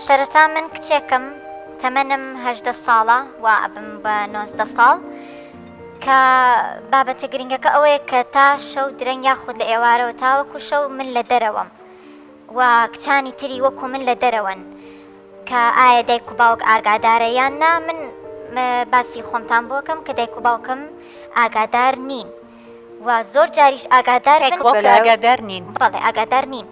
سەرەتا من کچێکم تەمەنم هەدە ساڵە و ئەبم بە نۆزدە ساڵ کە بابەتە گرنگەکە ئەوەیە کە تا شەو درەنگ یاخود لە ئێوارەوە تاوەکو شەو من لە دەرەوەم و کچانی تری وەکو من لە دەرەوەن کە ئایا دایک و باوک ئاگادارە یان نا من باسی خۆمتان بۆکەم کە دایک و باوکم ئاگادار نین و زۆر جاریش ئاگادار ئاگادار نین بەڵێ ئاگادار نین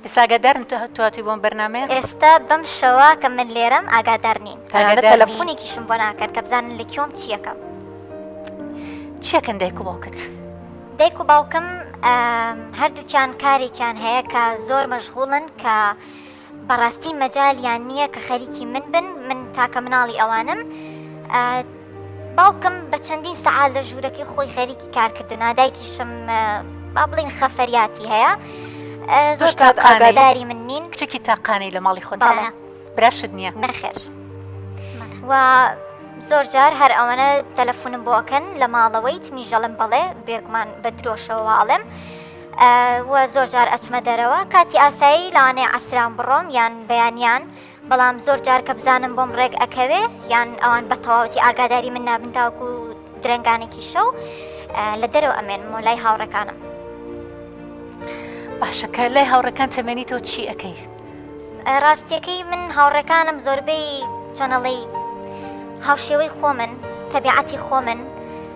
ئێستا ئاگادارم تۆ هاتووی بۆم بەرنامەیە. ئێستا بەم شەوە کە من لێرەم ئاگادار نین تەنانەت تەلەفونێکیشم بۆ ناکەن کە بزانن لە کوێم چیەکەم. چیەکەن دایک و باوکت؟ دایک و باوکم هەردووکیان کارێکیان هەیە کە زۆر مەشغوڵن کە بەڕاستی مەجالیان نییە کە خەریکی من بن من تاکە مناڵی ئەوانم. باوکم بە چەندین سەعات لە ژوورەکەی خۆی خەریکی کارکردنا دایکیشم با بڵین خەفەریاتی هەیە زۆر ئاگاداری من نین کچێکی تاقانەی لە ماڵی خۆداە براشت نییە نەخێر و زۆر جار هەر ئەوەنە تەلەفۆنم بۆکەن لە ماڵەوەی تمیژەڵم بەڵێ بێگومان بە درۆشەوەواڵم و زۆر جار ئەچمە دەرەوە کاتی ئاسایی لاانێ عسران بڕۆم یان بەیانیان بەڵام زۆر جار کە بزانم بۆم ڕێک ئەکەوێ یان ئەوان بە تەواوەتی ئاگاداری من نابن تاوکو درەنگانێکی شەو لە دەرەوە ئەمێن مۆلای هاوڕەکانم باشەکە لای هاوڕەکان تەمێنی تۆ چی ئەەکەی ڕاستیەکەی من هاوڕەکانم زۆربەی چەنەڵی هاوشێوەی خۆمن تەبیعەتی خۆمن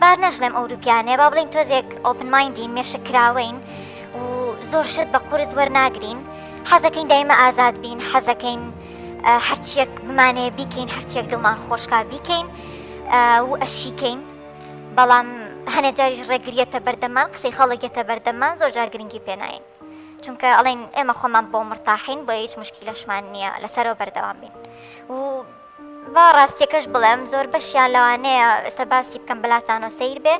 با نەشڵێم ئەوروپیانێ با بڵین تۆزێک ئۆپن مایندین مێشک کراوەین و زۆر شت بە قورس وەرناگرین حەزەکەین دایمە ئازاد بین حەزەکەین هەرچیەک بمانێ بیکەین هەرچیەک دڵمان خۆشکا بیکەین و ئەشیکەین بەڵام هەنە جاریش ڕێگریەتە بەردەمان قسەی خەڵکێتە بەردەمان زۆر جار گرنگی پێناین چونکە ئەڵێن ئێمە خۆمان بۆ مرتاحین بۆ هیچ مشکی لەشمان نییە لەسەرەوە بەردەوام بین و با ڕاستیەکەش بڵێم زۆر بەشیان لەوانەیە ئێستا باسی بکەم بەلاتانۆ سیر بێ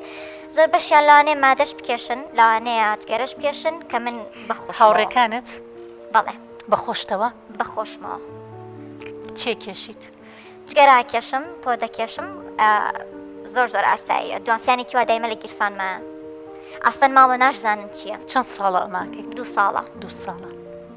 زۆر بەشیان لەوانەیە مادەش بکێشن لەوانەیە جگەرەش بکێشن کە من بەخۆ هاوڕێکانت بەڵێ بەخۆشتەوە بەخۆشمەوە چێ کێشیت جگەرا کێشم پۆ دەکێشم زۆر زۆر ئاستاییە دوانسیانێکی وا دایمە لە گیرفانمە ئاستەن ماڵە ناشزانن چییە چەند ساڵە ئەماکەیت دو ساڵە دو ساڵە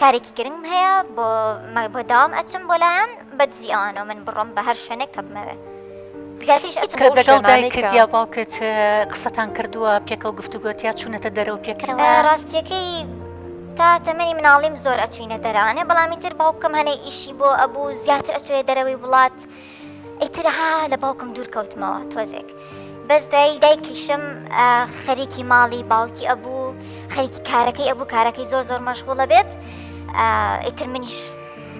کارێکی گرنگم هەیە بۆ بۆ داوام ئەچم بۆ لایەن بە دزی ئەوانە من بڕۆم بە هەر شوێنێک کە بمەوێت دەگەڵ دایکت یا باوکت قسەتان کردووە پێکەوە گفتوگۆتیا چوونەتە دەرەوە پێکەوە ڕاستیەکەی تا تەمەنی مناڵیم زۆر ئەچوینە دەرانێ بەڵامی تر باوکم هەنێ ئیشی بۆ ئەبوو زیاتر ئەچێ دەرەوەی وڵات ئیتر ها لە باوکم دوور کەوتمەوە تۆزێک بەس دوایی دایکیشم خەریکی ماڵی باوکی ئەبوو خەریکی کارەکەی ئەبوو کارەکەی زۆر زۆر مەشغوڵە بێت ئیتر منیش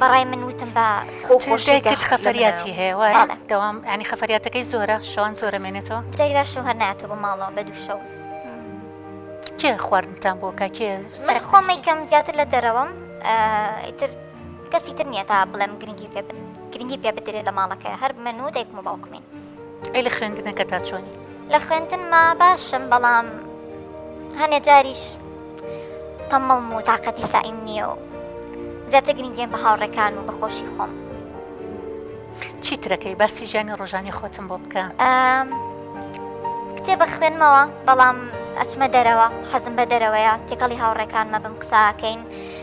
بەڕای من وتم بە خۆشێکت خەفەریاتی هەیە وایە دەوام ینی خەفەریاتەکەی زۆرە شەوان زۆرە مێنێتەوە جاری باش شەوهر ناتۆ بە ماڵەوە بە دووشەو کێ خواردنتان بۆ کا کێ سەر خۆمەیکەم زیاتر لە دەرەوەم ئیتر کەسی تر نییە تا بڵێم گرنگی پێ بن گرنگی پێ بدرێ لە ماڵەکەیا هەر من و دایکم و باوکمین. ئەی لە خوێندنەکە تا چۆنی؟ لە خوێندنما باشم بەڵام هەنێ جاریش تەمەڵم و تاقەتی سایم نییە و زیاتر گرنگیان بە هاوڕێکان و بەخۆشی خۆم. چیترەکەی باسی ژیانی ڕۆژانی خۆتم بۆ بکە کتێبە خوێنمەوە بەڵام ئەچمە دەرەوە حەزم بە دەرەوەیە تێکەڵی هاوڕێکانمە بم قساکەین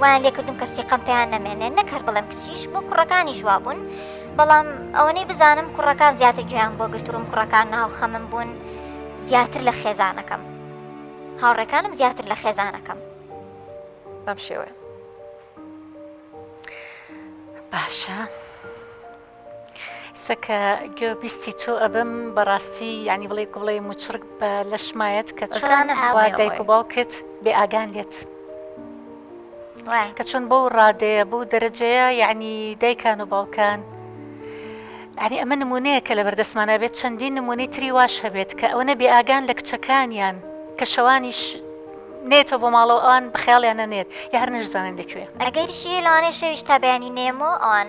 وایان لێکردم کە سیقەم پێیان نەمێنێ نەک هەر بڵێم کچیش بۆ کوڕەکانیش وابوون بەڵام ئەوەنەی بزانم کوڕەکان زیاتر گوێیان بۆ گرتووم کوڕەکان ناو خەمم بوون زیاتر لە خێزانەکەم هاوڕێکانم زیاتر لە خێزانەکەم بەم شێوەیە باشە. سەکە گوێ بیستی تۆ ئەبم بەڕاستی یعنی بڵێ گوڵێ موچڕک بە لەشمایەت کە چۆن ئاوا دایک و باوکت بێ ئاگان لێت کە چۆن بەو ڕادەیە بەو دەرەجەیە یعنی دایکان و باوکان ئەنی ئەمە نمونەیە کە لە بەردەستمانە بێت چەندین نمونەی تری واش هەبێت کە ئەوە نەبێ ئاگان لە کچەکانیان کە شەوانیش نێتەوە بۆ ماڵەوە ئەوان بخیاڵیان نەنێت یا هەر نەشزانن دەکوێ ئەگەریشی لەوانێ شەویش تا بەیانی نێمۆ ئەوان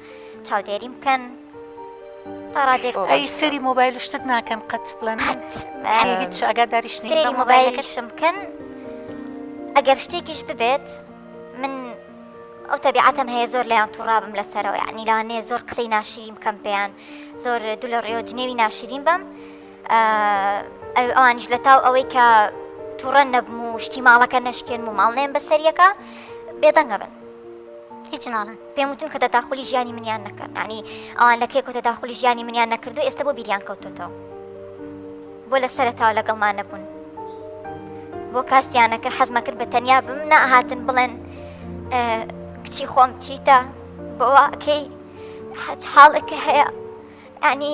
چاودێریم بکەن تاڕادێک ئەی سەری مۆبایل شتت ناکەن قەت بڵێن هیچ ئەگاداریش سەری مۆبایلەکەشم بکەن ئەگەر شتێکیش ببێت من ئەو تەبیعاتم هەیە زۆر لەیان توڕابم لەسەرەوە ینی لانێ زۆر قسەی ناشریم کەم پێیان زۆر دو لە ڕێەوە جنێوی ناشرین بم ئەوانیش لە تاو ئەوەی کە تووڕە نەبم و شتی ماڵەکە نەشکێن و ماڵ نێن بە سەریەکە بێدەنگە بن هیچ ناڵن پێم وتون کە دەداخلی ژیانی منیان نەکەن نانی ئەوان لەکێ کۆ دەداخلی ژیانی منیان نەکردو ئێستا بۆ بیریان کەوتۆتەوە بۆ لە سەرتاو لەگەڵمان نەبوون بۆ کاستیانە کرد حەزمە کرد بە تەنیا بم نەهاتن بڵێن کچی خۆم چیتە بۆواکەی حەج حاڵەکە هەیە ینی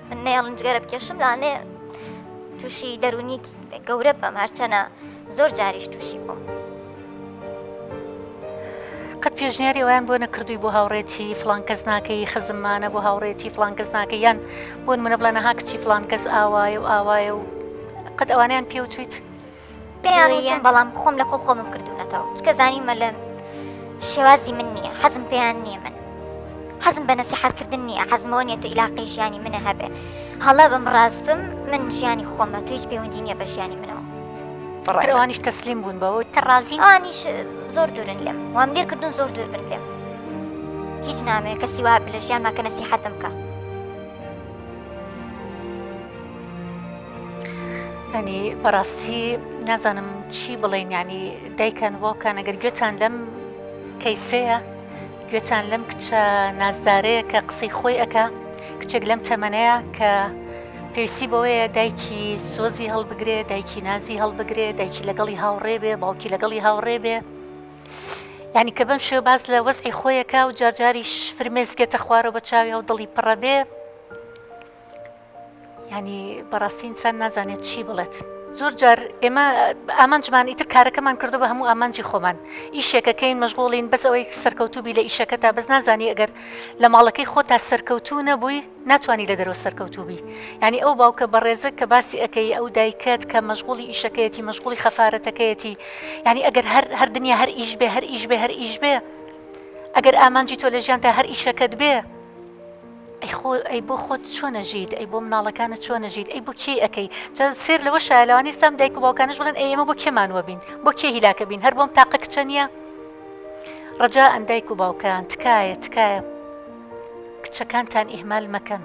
من نەیەڵن جگەرە بکێشم لاانێ تووشی دەرونی گەورە بەم هەرچەنە زۆر جاریش تووشی بووم. قەت پێشنیاری ئەویان بۆ نەکردووی بۆ هاوڕێتی فلان کەس ناکەی خزممانە بۆ هاوڕێتی فلان کەس ناکە یان بۆن منە بڵێ نەها کچی فلان کەس ئاوایە و ئاوایە و قەت ئەوانیان پێوتیت پێیان وتم بەڵام خۆم لە کۆ خۆمم کردوونەتەوە چکە زانیمە لە شێوازی من نییە حەزم پێیان نییە من حەزم بە نەسیحاتکردن نییە حەزمەوە نیە تو ئیلاقی ژیانی منە هەبێ هەڵە بم ڕاستبم من ژیانی خۆمە تو هیچ پەیوەندی نیە بە ژیانی منەوە ڕێوانیش تەسلیم بوون بەوە تە ڕازیوانیش زۆر دوورن لێم وام لێ کردن زۆر دوور بن لێم هیچ نامەیە کەسی وا لە ژیان ماکە نەسیحەتم بکە ئەنی بەڕاستی نازانم چی بڵێن ینی دایکان واکان ئەگەر گوێتان لەم کەیسەیە گوێتان لەم کچە نازدارەیە کە قسەی خۆی ئەکا کچێک لەم تەمەەیە کە پێویستی بەوەیە دایکی سۆزی هەڵبگرێ دایکی نازی هەڵبگرێ دایکی لەگەڵی هاوڕێ بێ باوکی لەگەڵی هاوڕێ بێ ینی کە بەم شێ باز لە وەزعی خۆیەکە و جارجاریش فرمێسکێتە خوارە بە چاوی و دڵی پڕە بێ ینی بەڕاستی ئینسان نازانێت چی بڵێت. زۆر جار ئێمە ئامانجمان ئیتر کارەکەمان کردو بە هەموو ئامانجی خۆمان ئیشێکەکەین مەژغۆڵین بەس ئەوەی سەرکەوتوبی لە ئیشەکە تا بەس نازانی ئەگەر لە ماڵەکەی خۆ تا سەرکەوتو نەبووی ناتوانانی لە دەرەوە سەرکەوتوبی ینی ئەو باوکە بەڕێزە کە باسی ئەەکەی ئەو دایکەت کە مەژغۆڵی ئیشەکەیەتی مەژغۆڵی خەفاەتەکەیەتی ینی ئەگەر هەر هەر دنیا هەر ئیش بێ هەر ئیش بێ هەر ئیش بێ ئەگەر ئامانجی تۆ لە ژیان تا هەر ئیشەکەت بێ ئەی خۆ ئەی بۆ خۆت چۆنە ژیت ئەی بۆ مناڵەکانە چۆنە ژیت ئەی بۆ کێ ئەەکەی جا سێر لەوە شایلوانی سام دایک و باوکانش بڵێن ئەی ئێمە بۆ کێمانوە بین بۆ کێ هیلاکە بین هەر بۆم تاقە کچە نییە ڕجا ئەندایک و باوکان تکایە تکایە کچەکانتان ئیهمال مەکەن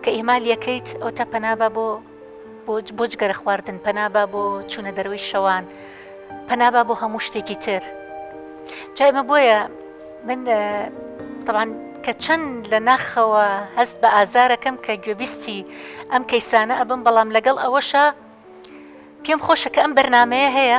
کە ئیمالیەکەیت ئەو تا پەنابە بۆ بۆ جگەرە خواردن، پەنا با بۆ چوونە دەرەوەی شەوان، پەنا با بۆ هەموو شتێکی تر. جا ئێمە بۆیە من تەبان کە چەند لە ناخەوە هەست بە ئازارەکەم کە گوێبیستی ئەم کەیسانە ئەبم بەڵام لەگەڵ ئەوەشە پێم خۆشە کە ئەم بەرنمەیە هەیە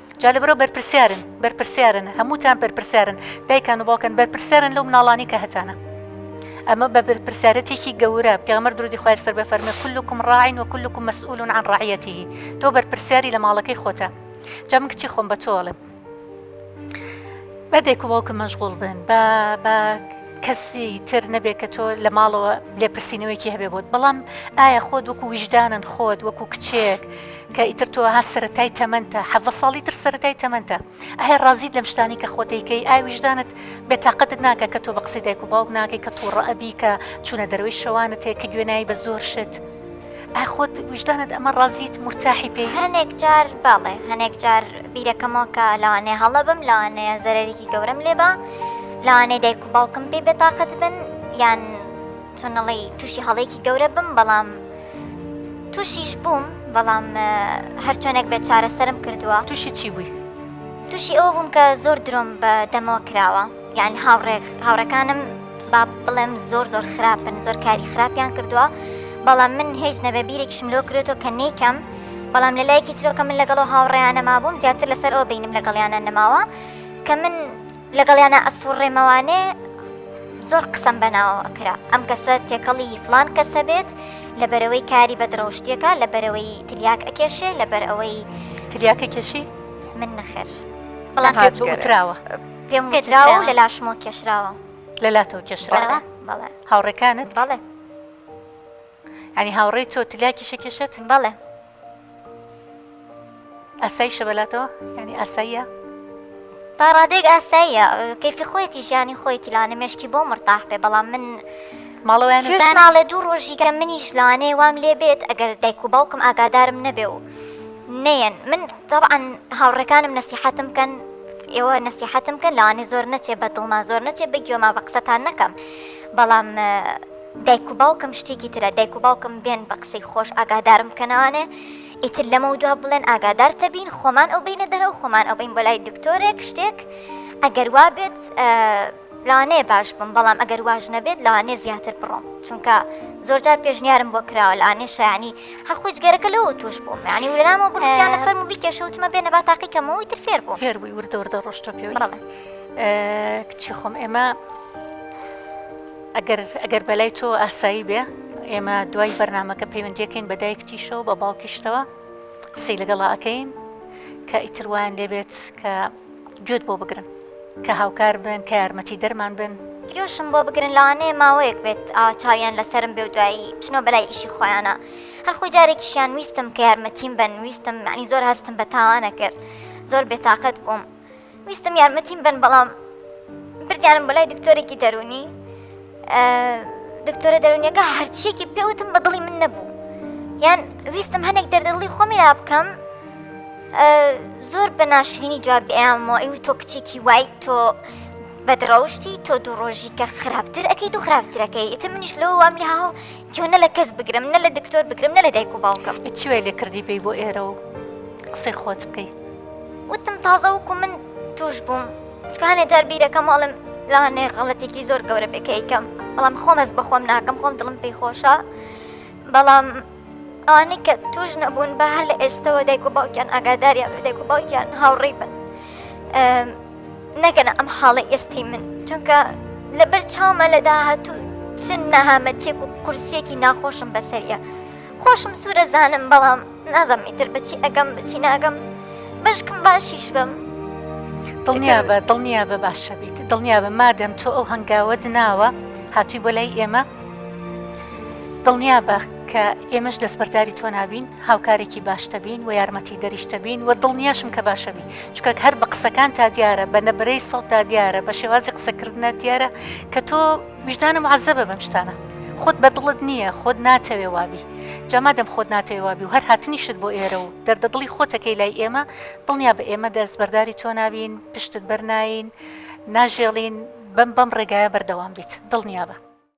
جا لەبەرەو بەرپرسیارن بەرپرسیارن هەمووتان بەرپرسیارن دایکان و باوکن بەرپرسیارن لەو مناڵانی کە هەتانە ئەمە بە بەرپرسیارەتێکی گەورە پێغمەر درودی خخوای سەر بە فەرمە کلکم ڕاین و کلکم مەسئولون عن ڕعەتی تۆ بەرپرسیاری لە ماڵەکەی خۆتە جا من کچی خۆم بە تۆڵم بە دێک و باوکە مەشغول بن بە بە کەسی تر نەبێت کە تۆ لە ماڵەوە لێپرسینەوەیکی هەبێ بۆت بەڵام ئایا خۆت وەکو ویژدانن خۆت وەکو کچێک کە ئیتر تۆ ها سەتای تەمەەنتە حەڤە ساڵی تر سەتای تەمەەنتە ئایا ڕازیت لەم شتانی کە خۆتەیکەی ئاویشدانت بێتاقەتت ناکە کە تۆ بە قسەی دایک و باوک ناکەی کە تووڕە ئەبی کە چوونە دەروی شەوانت هەیە کە گوێنایی بە زۆر شت ئای خۆت ویژدانت ئەمە ڕازیت مرتاحی پێی هەنێک جار باڵێ هەنێک جار بیرەکەمەوە کە لەوانێ هەڵە بم لەوانەیە زەرەرێکی گەورەم لێبا لەوانەیە دایک و باوکم پێ بێتاقەت بن یان چۆن نەڵێی تووشی هەڵەیەکی گەورە بم بەڵام تووشیش بووم بەڵام هەرچۆنێک بێت چارەسەرم کردووە تووشی چی بووی؟ تووشی ئەوە بووم کە زۆر درۆم بە دەمەوە کراوە یعنی هاوڕێک هاوڕەکانم با بڵێم زۆر زۆر خراپن زۆر کاری خراپیان کردووە بەڵام من هیچ نەبە بیرێکیشم لۆ کرێتەوە کە نیکەم بەڵام لە لایەکی ترۆکە من لەگەڵەوە هاوڕێیانە مابووم زیاتر لەسەر ئەو بینم لەگەڵیانە نەماوە کە من لەگەڵیانا ئەسوڕێمەوانێ زۆر قسەم بەناوەوە کرا ئەم کەسە تێکەڵی فلان کەسە بێت لە بەرەوەی کاری بە درەوشتیەکە لە بەرەوەی تلیاک ئەکێشێ لە بەر ئەوەی تلیاکە کێشی من نەخێر بەڵام تراوە پێم پێدراوە لە لاشمەوە کێشراوە لە لاتۆ کێشراوە هاوڕێکانت بەڵێ ئەنی هاوڕێی تۆ تلیاکی شکێشێت بەڵێ ئاسایی شە بەلاتەوە یعنی ئاساییە تا ڕادێک ئاساییە کەفی خۆیەتی ژیانی خۆیتی لاە مشکی بۆ مرتاح بێ بەڵام من ماڵەوەیان ناڵێ دوو ڕۆژیکە منیش لەوانێ وام لێ بێت ئەگەر دایک و باوکم ئاگادارم نەبێ و نەیەن من طبعاً هاوڕەکانم نەسیحەتم کەن ئێوە نەسیحەتم کە لەوانێ زۆر نەچێ بە دڵما زۆر نەچێ بە گوێما بە قسەتان نەکەم بەڵام دایک و باوکم شتێکی ترە دایک و باوکم بێن بە قسەی خۆش ئاگادارم بکەنەوانێ ئیتر لەمە دوا بڵێن ئاگادار تەبین خۆمان ئەو بینە دەرە و خۆمان ئەو بین بۆ لای دکتۆرێک شتێک ئەگەر وا بێت لانێ باش بم بەڵام ئەگەر واژ نەبێت لانێ زیاتر بڕۆم چونکە زۆرجار پێشنیارم بۆ کراوە لانێ شایانی هەرخۆش گەرەکە لەوە توش بووم ینی ولامەوە بڕیانە فەرم و بیکێشەوتمە بێنە با تاقیکەمەوەی تر فێر بوو فێر بووی وردە وردە ڕۆشتە پێ کچی خۆم ئێمە ئەگەر ئەگەر بەلای تۆ ئاسایی بێ ئێمە دوای بەرنمەکە پەیوەندیەکەین بە دایکتیشەوە بە باوکیشتەوە قسەی لەگەڵا ئەەکەین کە ئیتروان لێبێت کە گوێت بۆ بگرن کە هاوکار بن کە یارمەتی دەرمان بن گوێشم بۆ بگرن لاانێ ماوەیەک بێت چاویان لەسرم بێ و دوایی بچنەوە بەلای ئیشی خۆیانە هەرخۆ جارێکیشیان ویستم کە یارمەتیم بن ویستم معنی زۆر هەستم بە تاوانە کرد زۆر بێتاقەت بووم. ویستم یارمەتیم بن بەڵام بردیانم بۆ لای دکتۆرێکی دەرونی دکتۆرە دەرونیەکە هەرچیەکی پێوتم بە دڵی من نەبوو یان ویستم هەنێک دەردڵی خۆمی لا بکەم زۆر بە ناشرینی جواب ئەیانەوە ئەو تۆ کچێکی وای تۆ بەدڕەوشتی تۆ دوو ڕۆژی کە خراپتر ئەەکەیت و خراپترەکەی ئتە منیش لەوە وام لە هاو چوو نە لە کەس بگرم نە لە دکتۆر بگرم نە لە دایک و باوکم چوێ لێ کردی بی بۆ ئێرە و قسەی خۆت بکەی وتم تازە وکو من توش بووم چکانێ جار بیرەکەم ئەڵم لاانێ غەڵەتێکی زۆر گەورە بێکەیکەم بەڵام خۆمەز بەخۆم ناکەم خۆم دڵم پێی خۆشە بەڵام ئەوانەی کە توش نەبوون بە هەر لە ئێستەوە دایک و باوکیان ئاگاداریان دایک و باوکیان هاوڕێی بن نەگەنە ئەم حاڵەی ئێستەی من چونکە لەبەر چاومە لە داهاتوو چ نەهامەتیەک و قورسیەکی ناخۆشم بەسەریە خۆشم سوورە زانم بەڵام نازم ئیتر بچی ئەگەم بچی ناگەم بەشکم باشیش بم دڵنیا بە دڵنیا بە باشەبیت دڵنیا بە مادەم تۆ ئەو هەنگاوت ناوە هاتووی بۆ لای ئێمە دڵنیا بە کە ئێمەش دەستبەرداری تۆ نابین هاوکارێکی باشتەبین و یارمەتی دەریشتەبین و دڵنیاشم کە باشەبین چونکە هەر بە قسەکانتا دیارە بە نەبرەی سەوتا دیارە بە شێوازی قسەکردە دیارە کە تۆ ویژدانم عزەبە بەم شتانە خۆت بە دڵت نییە خۆت ناتەوێ وابی جاما دەم خۆت ناتەوێ وابی و هەر هاتنیشت بۆ ئێرە و دەردە دڵی خۆتەکەی لای ئێمە دڵنیا بە ئێمە دەست بەرداری تۆ ناوین پشتت بەرناین ناژێڵین بەم بەم ڕێگایە بەردەوام بیت دڵنیا بە